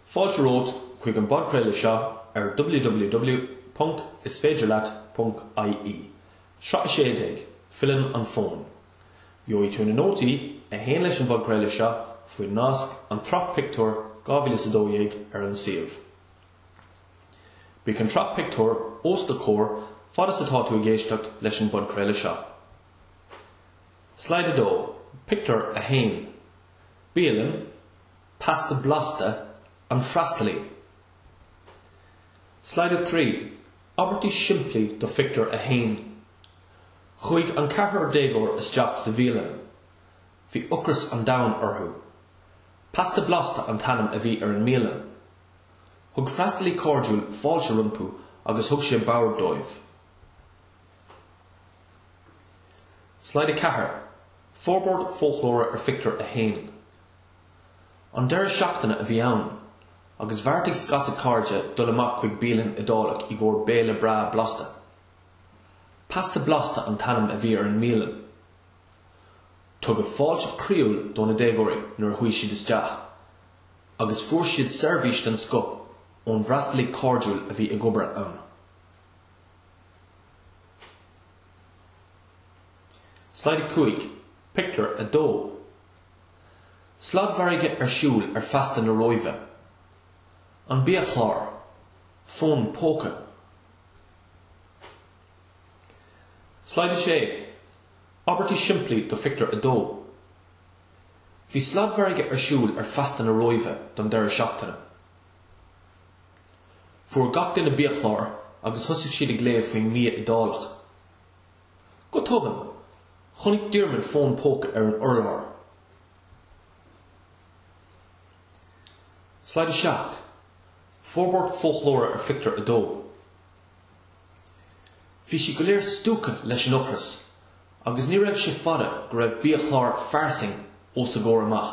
Fáilte romhat chuig an bpodchraoladh seo ar www.isféidirleat.ie, sraith 16, Filleann an Fón. Gheobhaidh tú na nótaí a théann leis an bpodchraoladh seo faoin nasc An tSraith Pictiúr 2012 ar an suíomh. Beidh an tsraith pictiúr os do chomhair fad is atá tú ag éisteacht leis an bpodchraoladh seo. Slide 2, Pictiúr 1. Bialann, Pasta Blasta, An Freastalaí. Slide 3, Abairtí simplí do Phictiúr 1 Chuaigh an ceathrar déagóir isteach sa bhialann. Bhí ocras an domhain orthu. Pasta Blasta an t-ainm a bhí ar an mbialann. Thug freastalaí cairdiúil fáilte rompu agus thug sé bord dóibh. Slide 4, Forbairt foclóra ar Phictiúr 1 An deireadh seachtaine a bhí ann agus bheartaigh scata cairde dul amach chuig bialann Iodálach i gcomhair béile breá blasta. Pasta Blasta an t-ainm a bhí ar an mbialann. Tugadh fáilte chroíúil do na déagóirí nuair a chuaigh siad isteach agus fuair siad seirbhís den scoth ón bhfreastalaí cairdiúil a bhí ag obair ann. Slide 5, Pictiúr 2. Sladmhargadh ar siúl ar Féasta na Róimhe. An biachlár. Fón póca. Slide 6, Abairtí simplí do Phictiúr 2. Bhí sladmhargadh ar siúl ar Féasta na Róimhe don deireadh seachtaine. Fuair gach duine biachlár agus thosaigh siad ag léamh faoin mbia Iodálach. Go tobann, chonaic Diarmuid fón póca ar an urlár. Slide 7, Forbairt foclóra ar Phictiúr 2 Bhí siad go léir stiúgtha leis an ocras agus ní raibh sé fada go raibh biachlár fairsing os a gcomhair amach.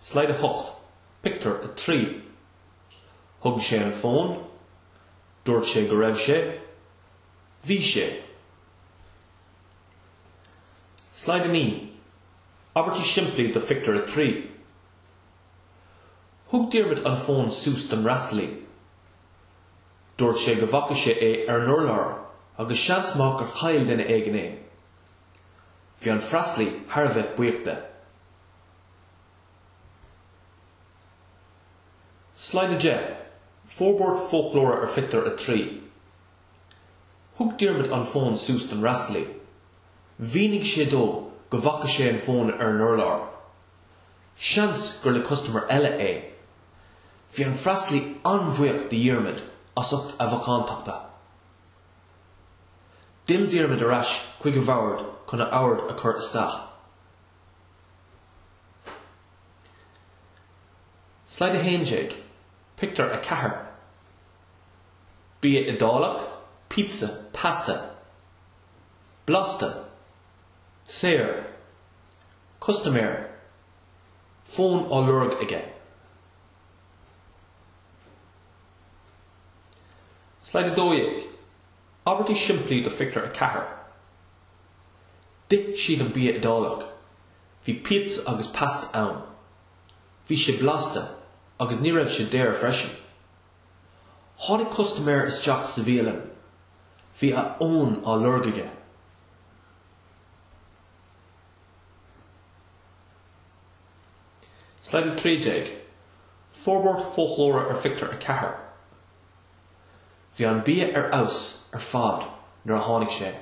Slide 8, Pictiúr 3 Thug sé an fón Dúirt sé go raibh sé Bhí sé Slide 9, Abairtí simplí do Phictiúr 3 Thug Diarmuid an fón suas don fhreastalaí. Dúirt sé go bhfaca sé é ar an urlár agus seans maith gur chaill duine éigin é. Bhí an freastalaí thar a bheith buíoch de. Slide 10, Forbairt Foclóra ar Phictiúr 3 Thug Diarmaid an fón suas don fhreastalaí. Mhínigh sé dó go bhfaca sé an fón ar an urlár. Seans gur le custaiméir eile é. Bhí an freastalaí an-bhuíoch de Dhiarmaid as ucht a mhacántachta. D'fhill Diarmaid ar ais chuig a bhord chun a abairt a chur isteach. Slide 11, Pictiúr 4 Bia Iodálach, pizza, pasta, blasta, saor, custaiméir, fón á lorg aige. Slide 12, Abairtí simplí do Phictiúr 4 D'ith siad an bia Iodálach. Bhí pizza agus pasta ann. Bhí sé blasta agus ní raibh sé daor freisin. Tháinig custaiméir isteach sa bhialann. Bhí a fhón á lorg aige. Slide 13, Forbairt foclóra ar phictiúr a ceathair Bhí an bia ar fheabhas ar fad nuair a tháinig sé.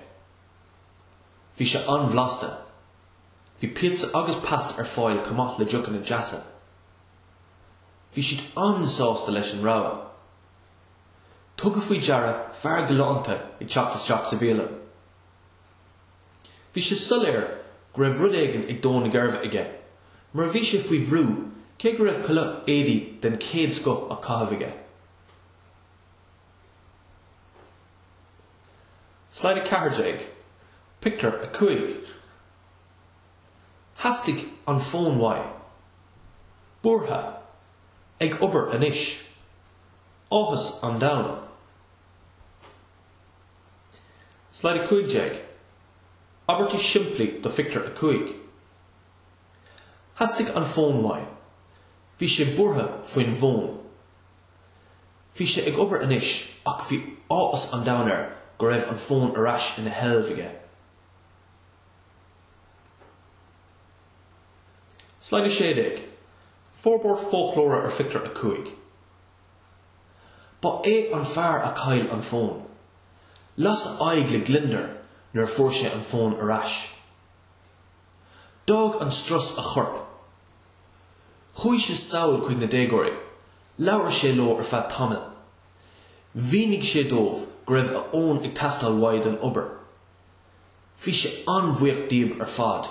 Bhí sé an-bhlasta. Bhí pizza agus pasta ar fáil chomh maith le deochanna deasa. Bhí siad an-sásta leis an rogha. Tugadh faoi deara fear galánta ag teacht isteach sa bhialann. Bhí sé soiléir go raibh rud éigin ag dó na geirbe aige, mar bhí sé faoi bhrú, cé go raibh culaith éadaí den chéad scoth á caitheamh aige. Slide 14, Pictiúr 5 Theastaigh an fón uaidh. Buartha. Ag obair anois. Áthas an domhain. Slide 15, Abairtí simplí do Phictiúr 5 Theastaigh an fón uaidh. Bhí sé buartha faoin bhfón. Bhí sé ag obair anois ach bhí áthas an domhain air go raibh an fón ar ais ina sheilbh aige. Slide 16, Forbairt foclóra ar Phictiúr 5. Ba é an fear a chaill an fón. Las a aghaidh le gliondar nuair a fuair sé an fón ar ais. D'fhág an strus a chorp. Chuaigh sé sall chuig na déagóirí. Labhair sé leo ar feadh tamaill. Mhínigh sé dóibh go raibh a fhón ag teastáil uaidh don obair. Bhí sé an-bhuíoch díob ar fad.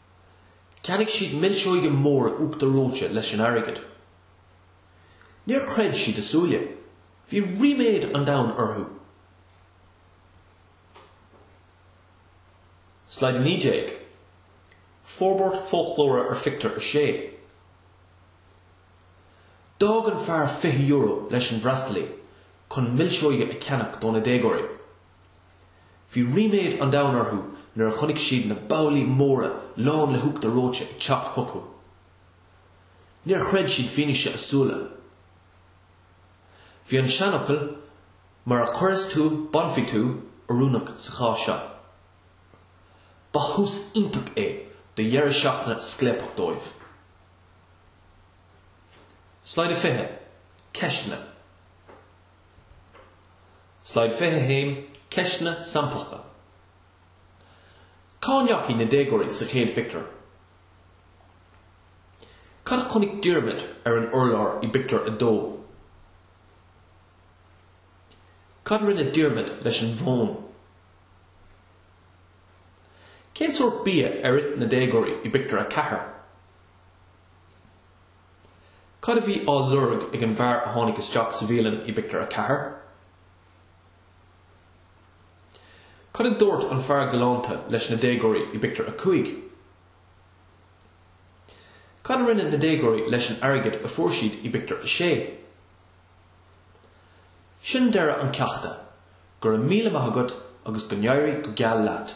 Cheannaigh siad milseoga móra uachtar reoite leis an airgead. Níor chreid siad a súile. Bhí ríméad an domhain orthu. Slide 19. Forbairt foclóra ar phictiúr a sé. D'fhág an fear €20 leis an bhfreastalaí chun milseoga a cheannach do na déagóirí. Bhí ríméad an domhain orthu nuair a chonaic siad na babhlaí móra lán le huachtar reoite ag teacht chucu. Níor chreid siad fianaise a súile. Bhí an seanfhocal 'mar a chuireas tú bainfidh tú' oiriúnach sa chás seo. Ba thús iontach é do dheireadh seachtaine scléipeach dóibh. Slide 20, Ceisteanna. Slide 21, Ceisteanna samplacha Cá ndeachaigh na déagóirí sa chéad phictiúr? Cad a chonaic Diarmaid ar an urlár i bpictiúr a dó? Cad a rinne Diarmaid leis an bhfón? Cén sórt bia ar ith na déagóirí i bpictiúr a ceathair? Cad a bhí á lorg ag an bhfear a tháinig isteach sa bhialann i bpictiúr a ceathair? Cad a dúirt an fear galánta leis na déagóirí i bpictiúr a cúig? Cad a rinne na déagóirí leis an airgead a fuair siad i bpictiúr a sé? Sin deireadh an cheachta. Go raibh míle maith agat agus go n-éirí go geal leat.